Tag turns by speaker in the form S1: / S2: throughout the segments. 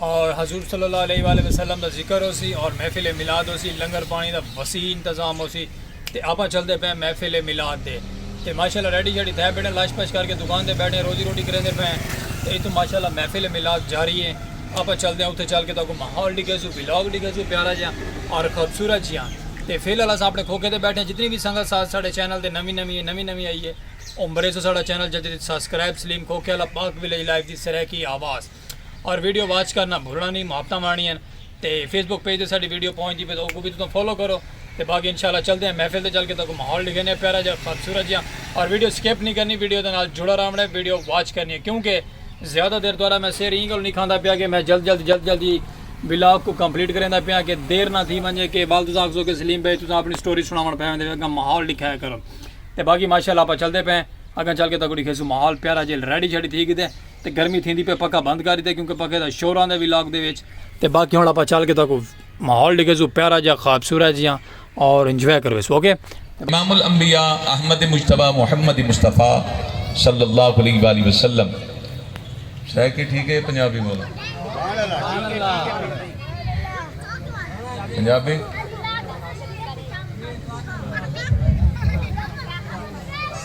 S1: اور حضور صلی اللہ علیہ وآلہ وسلم دا ذکر ہو سی اور محفل میلاد ہو سی لنگر پانی دا وسیع انتظام ہو سی تے آپاں چلدے پئے محفل میلاد دے تے ماشاءاللہ ریڈی شیڈی تھے بیٹھے لاش پش کر کے دکان دے بیٹھے روزی روٹی کریندے پئے تے اتھوں ماشاءاللہ محفل میلاد جاری ہے آپاں چلدے ہیں اتھے چل کے تاکو ماحول ڈگے سو ویلاگ ڈگے سو پیارا جیاں اور خوبصورت جیاں تے فی الحال اساں اپنے کھوکے دے بیٹھے ہیں جتنی بھی سنگت ساتھ ساڑھے چینل دے نمی نمی ہے نمی نمی آئی ہے عمرے سو ساڑھا چینل جدید سبسکرائب سلیم کھوکے اللہ پاک ویلیج لائف دی سرے کی آواز اور ویڈیو واچ کرنا بھولنا نہیں محبتاں وانڑیاں تے فیس بک پیج تے ساڈی ویڈیو پہنچ دی پے تو اوکو بھی تساں فالو کرو تے باقی انشاءاللہ چلدے ہیں محفل تے چل کے تاکو ماحول ڈکھینے پیارا جا خوبصورت جا اور ویڈیو سکپ نہیں کرنی ویڈیو دے نال جڑا رہونڑے ویڈیو واچ کرنی ہے کیونکہ زیادہ دیر دوارا میں سیر ایں گل نہیں کھاندا پیا کہ میں جلد جلد جلد جلدی ولاگ کو کمپلیٹ کریندا پیا کہ دیر نہ تھی ونجے کہ بال تساں آکھسو کہ سلیم بھائی تساں اپنی سٹوری سناون پے ہوندے اگاں ماحول ڈکھایا کرو تے باقی ماشاءاللہ اپا چلدے پے اگاں چل کے تاکو ڈکھیسو ماحول پیارا جیل ریڈی شیڈی تھی گدے تے گرمی تھیندی پئی پکھا بند کر ڈیتا کیونکہ پکھے دا شور آندا وی لاک دے وچ تے باقی ہن آپاں چل کے تہاکوں ماحول ڈیکھیسوں پیارا جیہا خوابصورت جیہا اور انجوائے کرویسوں اوکے۔ امام الانبیاء
S2: احمد مجتبی محمد مصطفی صلی اللہ علیہ و آلہ وسلم۔ سرائیکی ٹھیک ہے پنجابی بولاں؟ پنجابی؟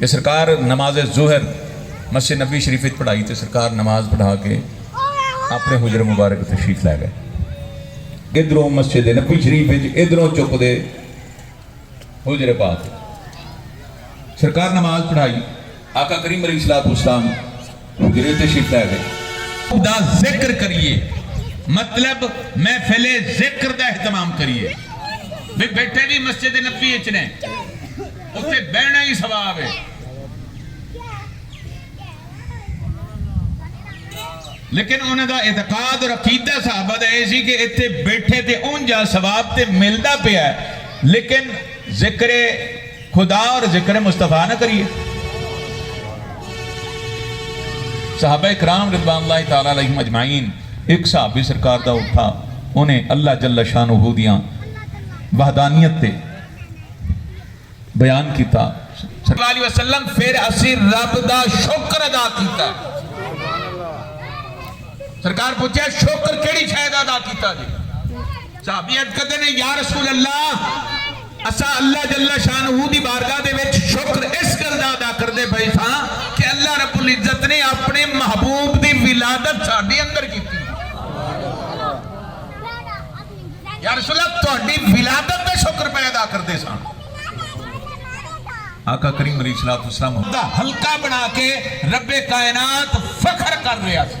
S2: کہ سرکار نماز ظہر مسجد نبوی شریف وچ پڑھائی تے سرکار نماز پڑھا کے اپݨے حجرہ مبارک تشریف لے گئے ادھروں مسجد نبوی شریف وچ ادھروں چک دے حجرے پاک سرکار نماز پڑھائی آقا کریم علیہ السلام برٹش پہلے دا ذکر کریے مطلب محفل ذکر دا اہتمام کریے بھی بیٹھے بھی مسجد نبی اچ نے اتنے بہنا ہی ثواب ہے لیکن انہوں دا اعتقاد اور عقیدہ صحابہ دا یہ سی کہ اتنے بیٹھے تے اونجا ثواب تے ملدا پیا ہے لیکن ذکر خدا اور ذکر مصطفی نہ کریے صحابہ اکرام رضوان اللہ تعالیٰ علیہم اجمعین ایک صحابی سرکار دا اٹھا انہیں اللہ جل شانہ ہو دیاں وحدانیت تے بیان کیتا صلی اللہ علیہ وسلم پھر اسی رب دا شکر ادا کیتا سرکار پوچھے شکر کیڑی شاید ادا کیتا جی صحابی اٹھ کہتے ہیں یا رسول اللہ اساں اللہ جل شانہ دی بارگاہ دے وچ شکر اس گل دا ادا کردے پیساں کہ اللہ رب العزت نے اپݨے محبوب دی ولادت ساݙے اندر کیتی۔ یا رسول اللہ تہاݙی ولادت دا شکر پئے ادا کردیساں۔ آقا کریم علیہ الصلوۃ والسلام دا حلقہ بݨا کے رب کائنات فخر کر رہیا سی۔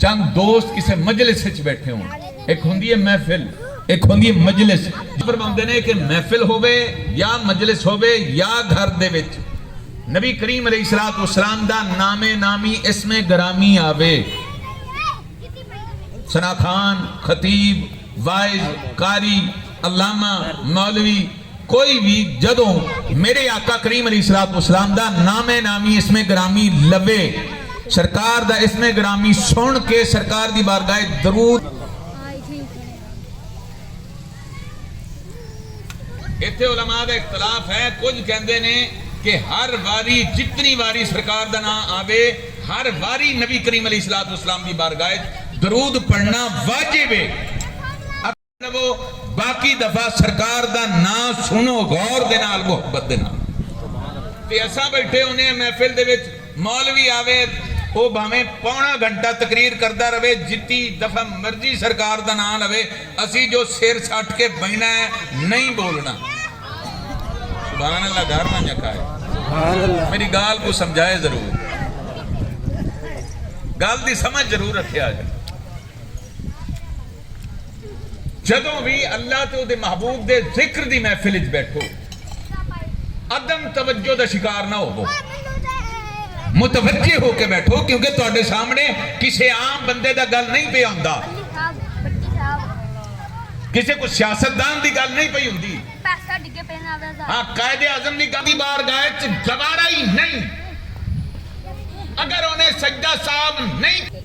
S2: چند دوست کسے مجلس اچ بیٹھے ہون۔ ہک ہوندی ہے محفل ہک ہوندی ہے مجلس۔ نبی فرماوندے نے کہ محفل ہووے یا مجلس ہووے یا گھر دے وچ نبی کریم علیہ الصلوۃ والسلام دا نام نامی اسم گرامی آوے۔ ثناء خان، خطیب، واعظ، قاری، علامہ، مولوی، کوئی وی جدوں میݙے آقا کریم علیہ الصلوۃ والسلام دا نام نامی اسم گرامی لوے، سرکار دا اسم گرامی سݨ کے سرکار دی بارگاہ اچ درود، ایتھے علماء دا اختلاف ہے کجھ کہندے نے کہ ہر واری جتنی واری سرکار دا ناں آوے ہر واری نبی کریم علیہ الصلوۃ والسلام دی بارگاہ اچ درود پڑھݨا واجب ہے۔ لوو باقی دفعہ سرکار دا ناں سنو غور دے نال محبت دے نال تے اساں بیٹھے ہونے ہیں محفل دے وچ مولوی آوے او بھاویں پونا گھنٹہ تقریر کردا رہوے جتی دفعہ مرضی سرکار دا ناں لوے اسی جو سر سٹ کے بہنا ہے نہیں بولنا سبحان اللہ گھر ونج آکھائے میری گال کو سمجھائے ضرور گال دی سمجھ ضرور رکھے آجا جدوں وی اللہ تے اودے محبوب دے ذکر دی محفل اچ بیٹھو عدم توجہ دا شکار نہ ہوو متوجہ ہو کے بیٹھو کیونکہ تہاڈے سامنے کسے عام بندے دا گل نہیں پیا ہوندا کسے کو سیاست دان دی گل نہیں پئی ہوندی ہاں قائد اعظم دی گل دی بار گائے چ گوارا ہی نہیں اگر انہیں سجدہ صاحب نہیں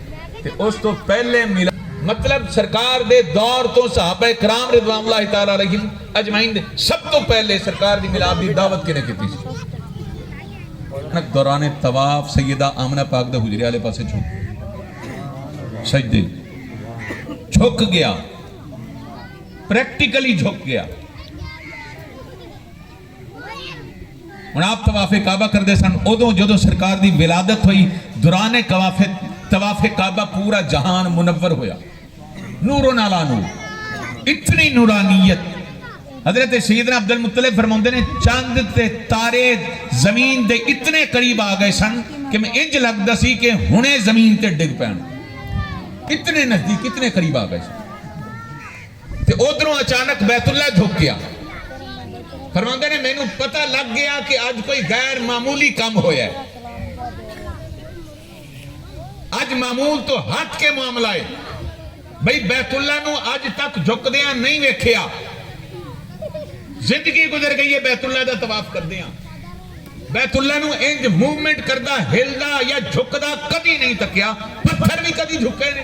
S2: تے اس توں پہلے میلاد۔ مطلب سرکار دے دور توں صحابہ کرام رضوان اللہ تعالی علیہم اجمعین دے سب توں پہلے سرکار دی میلاد دی دعوت کنے کیتی سی۔ انک دوران طواف سیدہ آمنہ پاک دے حجرے آلے پاسے جھک سجدے جھک گیا پریکٹیکلی جھک گیا۔ ہن آپ طواف کعبہ کردے سن ادوں جدوں سرکار دی ولادت ہوئی دوران طواف طواف کعبہ پورا جہان منور ہویا نور و نالا نور اتنی نورانیت حضرت سیدنا عبد المطلب فرماوندے نے چاند تے تارے زمین دے اتنے قریب آ گئے سن کہ میں انج لگدا سی کہ ہنے زمین تے ڈگ پین اتنے نزدیک اتنے قریب آ گئے سن تے اودھروں اچانک بیت اللہ جھک گیا۔ فرماندے نے مینوں پتہ لگ گیا کہ اج کوئی غیر معمولی کم ہویا ہے۔ اج معمول توں ہٹ کے معاملہ ہے۔ بھئی بیت اللہ نوں اج تک جھکدیاں نہیں ویکھیا۔ زندگی گزر گئی ہے بیت اللہ دا طواف کردیاں۔ بیت اللہ نوں انج موومنٹ کردا، ہلدا یا جھکدا کدی نہیں تکیا۔ پتھر وی کدی جھکے نے۔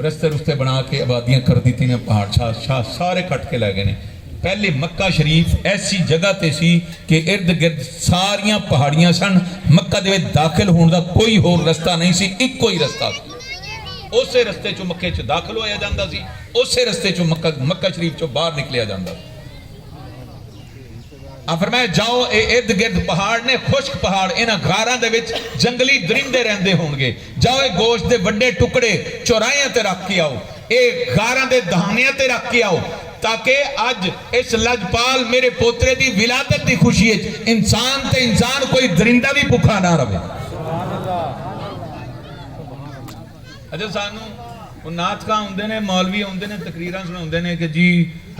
S2: رستے رستے بنا کے آبادیاں کر دیتی نے پہاڑ چھا شاہ سارے کٹ کے لے گئے نے پہلے مکہ شریف ایسی جگہ تے سی کہ ارد گرد ساریاں پہاڑیاں سن مکہ دے وچ داخل ہون دا کوئی ہور رستہ نہیں سی اکو ہی رستہ سی اسے رستے چو مکے چ داخل ہویا جاندا سی اسے رستے چو مکہ مکہ شریف چو باہر نکلیا جاندا سی اں فرمایا جاؤ اے ارد گرد پہاڑ نے خشک پہاڑ انہاں غاراں دے وچ جنگلی درندے رہندے ہون گے جاؤ اے گوشت دے وڈے ٹکڑے چوراہیاں تے رکھ کے آؤ اے غاراں دے دہانیاں تے رکھ کے آؤ تاکہ اج اس لجپال میرے پوترے دی ولادت دی خوشی وچ انسان تے انسان کوئی درندہ وی بکھا نہ رہوے۔ اچھا سانوں او نعت خواں ہوندے نے مولوی ہوندے نے تقریراں سنڑاوندے نے کہ جی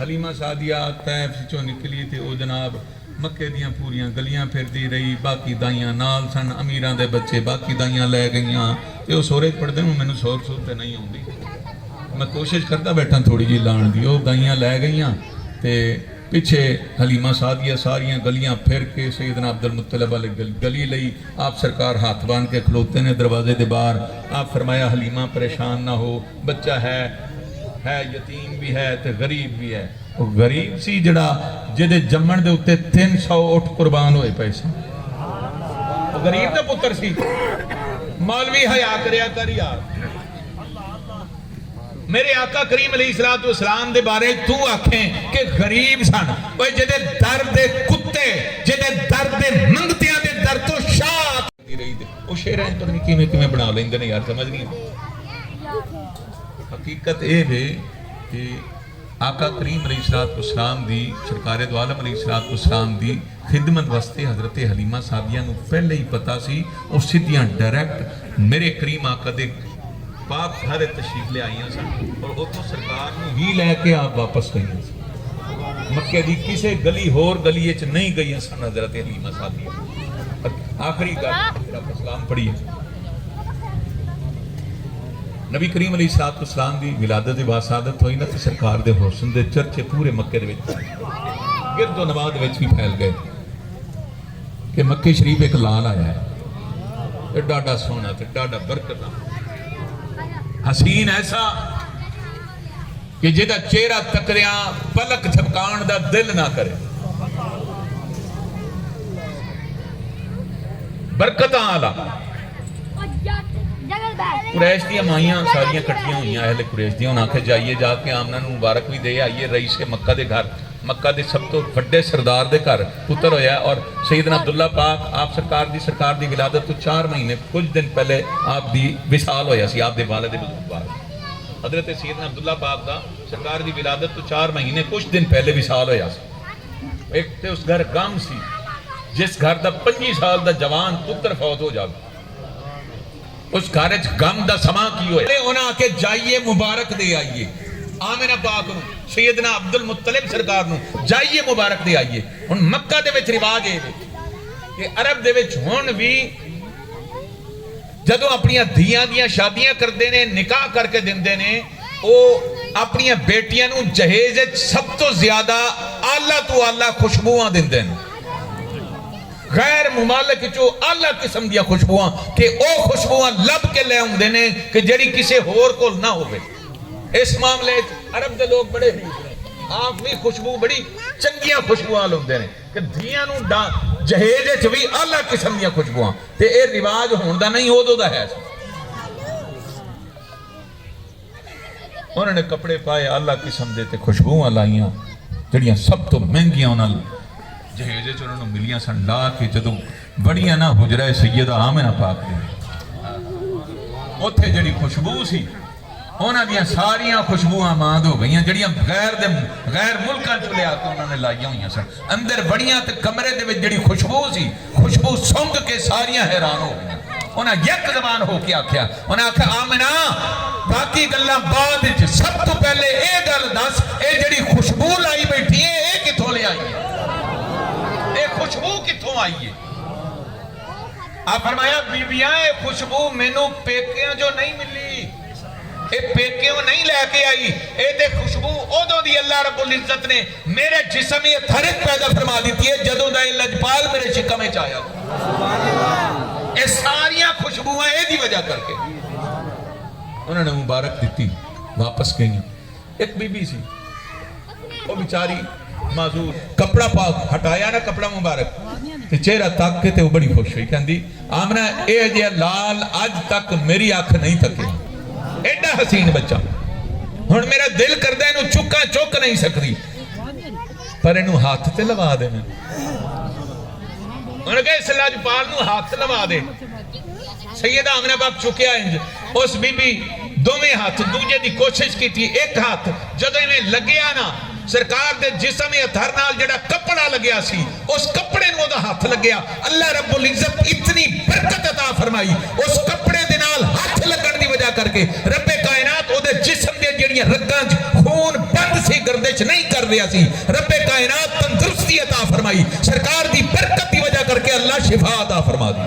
S2: حلیمہ سعدیہ طیف وچوں نکلی تے او جناب مکے دیاں پوریاں گلیاں پھردی رہی باقی دائیاں نال سن امیراں دے بچے باقی دائیاں لے گئیاں تے او سورج پڑھدے ہوں مینوں سور سور تے نئیں اوندی میں کوشش کردا بیٹھاں تھوڑی جئی لان دی او دائیاں لے گئیاں تے پچھے حلیمہ سعدیہ ساریاں گلیاں پھر کے سیدنا عبدالمطلب آلے گلی لئی آپ سرکار ہتھ بن کے کھلوتے نے دروازے دے باہر۔ آپ فرمایا حلیمہ پریشان نہ ہو بچہ ہے ہے یتیم وی ہے تے غریب وی ہے۔ او غریب سی جیڑھا جیدے جمن دے اتے تین سو اٹھ قربان ہوئے پئے سن۔ او غریب دا پتر سی۔ مولوی حیا کریا کر یار۔ میرے آقا کریم علیہ الصلوۃ والسلام دے بارے وچ توں آکھیں کہ غریب سن اوئے جیندے در دے کتے جیندے در دے منگتیاں دے در توں شاہ آکھے ویندی رہی تے او شعراں وچ پتہ نی کیویں کیویں بنا لیندے نے یار سمجھ نی آندی حقیقت اے وے کہ آقا کریم علیہ الصلوۃ والسلام دی سرکار دوعالم علیہ الصلوۃ والسلام دی خدمت واسطے حضرت حلیمہ سعدیہ نو پہلے ای پتہ سی او سدھیاں ڈائریکٹ میرے کریم آقا دے پاک گھر اچ تشریف لے آئیاں سن اور اوتھوں سرکار نو ہی لے کے آپ واپس گئیاں سن مکے دی کسے گلی ہور گلی اچ نہیں گئیاں سن حضرت حلیمہ سعدیہ آخری گل میرا اسلام پڑھیے نبی کریم علیہ الصلوۃ والسلام دی ولادت دی واسعادت تھوئی نہ تے سرکار دے حسن دے چرچے پورے مکے دے وچ پھیل گئے۔ گرد و نواح دے وچ وی پھیل گئے کہ مکے شریف ہک لال آیا ہے تے ڈاڈھا سوہݨا تے ڈاڈھا برکت آلا حسین ایسا۔ کہ جیڈا چہرہ تکڑیاں پلک جھپکاونڑ دا دل نہ کرے۔ برکتاں آلا۔ قریش دیاں مائیاں ساریاں کٹھیاں ہوئیاں اہل قریش دیاں انہاں آکھیا جائیے جا کے آمنہ نوں مبارک وی دے آئیے رئیس مکہ دے گھر مکہ دے سب توں وڈے سردار دے گھر پتر ہویا ہے اور سیدنا عبداللہ پاک آپ سرکار دی سرکار دی ولادت توں چار مہینے کجھ دن پہلے آپ دی وصال ہویا سی آپ دے والد بزرگوار حضرت سیدنا عبداللہ پاک دا سرکار دی ولادت توں چار مہینے کچھ دن پہلے وصال ہویا سی۔ ہک تے اس گھر غم سی جس گھر دا پنجی سال دا جوان پتر فوت ہو جاوے۔ اس گھر اچ غم دا سماں کی ہویا۔ انہاں آکھیا جائیے مبارک دے آئیے آمنہ پاک نوں، سیدنا عبدالمطلب سرکار نوں جائیے مبارک دے آئیے۔ ہن مکہ دے وچ رواج اے وے کہ عرب دے وچ ہن وی۔ جدوں اپݨیاں دھیاں دیاں شادیاں کردے نے، نکاح کر کے ݙیندے نے، او اپݨیاں بیٹیاں نوں جہیز اچ سب توں زیادہ اعلی توں اعلی خوشبواں ݙیندن۔ غیر ممالک اچوں اعلی قسم دیاں خوشبواں کہ او خوشبواں لبھ کے لے اوندے نے کہ جیڑھی کسے ہور کول نہ ہووے۔ اس معاملے اچ عرب دے لوک بڑے حریف نے۔ آپ وی خوشبو بڑی چنگیاں خوشبواں آل ہوندے نے کہ دھیاں نوں جہیز اچ وی اعلی قسم دیاں خوشبواں تے اے رواج ہون دا نہیں اودو دا ہے سی انہوں نے کپڑے پائے آلہ قسم دے تے خوشبوہاں لائیاں جڑیاں سب تو مہنگیاں انہوں نے جہیزے چ انہوں نے ملیاں سن لا کے جدوں بڑیاں نہ حجرہ سیدہ آمنہ پاک دے اوتھے جڑی خوشبو سی انہاں دیاں ساریاں خوشبواں ماند ہو گئیاں جیڑھیاں غیر دے غیر ملکاں چوں لیا کے انہاں نے لائیاں ہویاں سن۔ اندر وڑیاں تے کمرے دے وچ جیڑھی خوشبو سی خوشبو سنگ کے ساریاں حیران ہو گئیاں۔ انہاں یک زبان ہو کے آکھیا۔ انہاں آکھیا آمنہ باقی گلاں بعد اچ سب توں پہلے اے گل دس اے جیڑھی خوشبو لائی بیٹھی ایں اے کتھوں لے آئی اے۔ اے خوشبو کتھوں آئی اے۔ آپ فرمایا بیبیاں اے خوشبو مینوں پیکیاں جو نئیں ملی اے پیکیوں نئیں لے کے آئی اے تے خوشبو اودوں دی اللہ رب العزت نے میرے جسم ای اتھر اچ پیدا فرما ڈتی اے جدوں دا اے لجپال میرے شکم اچ آیا اے ساریاں خوشبواں اے دی وجہ کر کے انہاں نے مبارک ڈتی واپس گئیاں ہک بی بی سی او وچاری معذور۔ کپڑا پاک ہٹایا نا کپڑا مبارک تے چہرہ تک کے تے او بڑی خوش ہوئی کہندی آمنہ اے جیہا لال اج تک میری اکھ نئیں تکیا ایڈا حسین بچہ ہن میرا دل کردا اینوں چکاں چک نئیں سکدی پر اینوں ہتھ تے لوا دیواں۔ انہاں آکھیا اس لجپال نوں ہتھ لوا دے۔ سیدہ آمنہ بک چکیا انج اس بی بی دوویں ہتھ دوجھے دی کوشش کیتی اک ہتھ جدوں ایویں لگیا نا سرکار دے جسم اطہر نال جیڑھا کپڑا لگیا سی اس کپڑے نوں اودا ہتھ لگیا اللہ رب العزت اتنی برکت عطا فرمائی اس کپڑے دے نال ہتھ لگن دی وجہ کر کے رب کائنات اودے جسم دیاں جیڑھیاں رگاں اچ خون بند سی گردش نہیں کر رہیا سی رب کائنات تندرستی عطا فرمائی سرکار دی برکت دی وجہ کر کے اللہ شفا عطا فرما ݙتی۔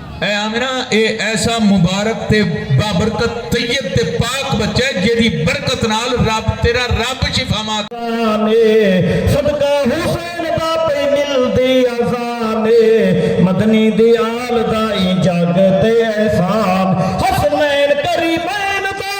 S2: اے آمنہ اے ایسا مبارک تے بابرکت طیب تے پاک بچہ ہے جیدی برکت نال رب تیرا رب شفاما کر۔ اذان اے
S3: صدقہ حسین دا پئی ملدی اذان اے مدنی دی آل دا ایں جگ تے احسان حسنین کریمین دا۔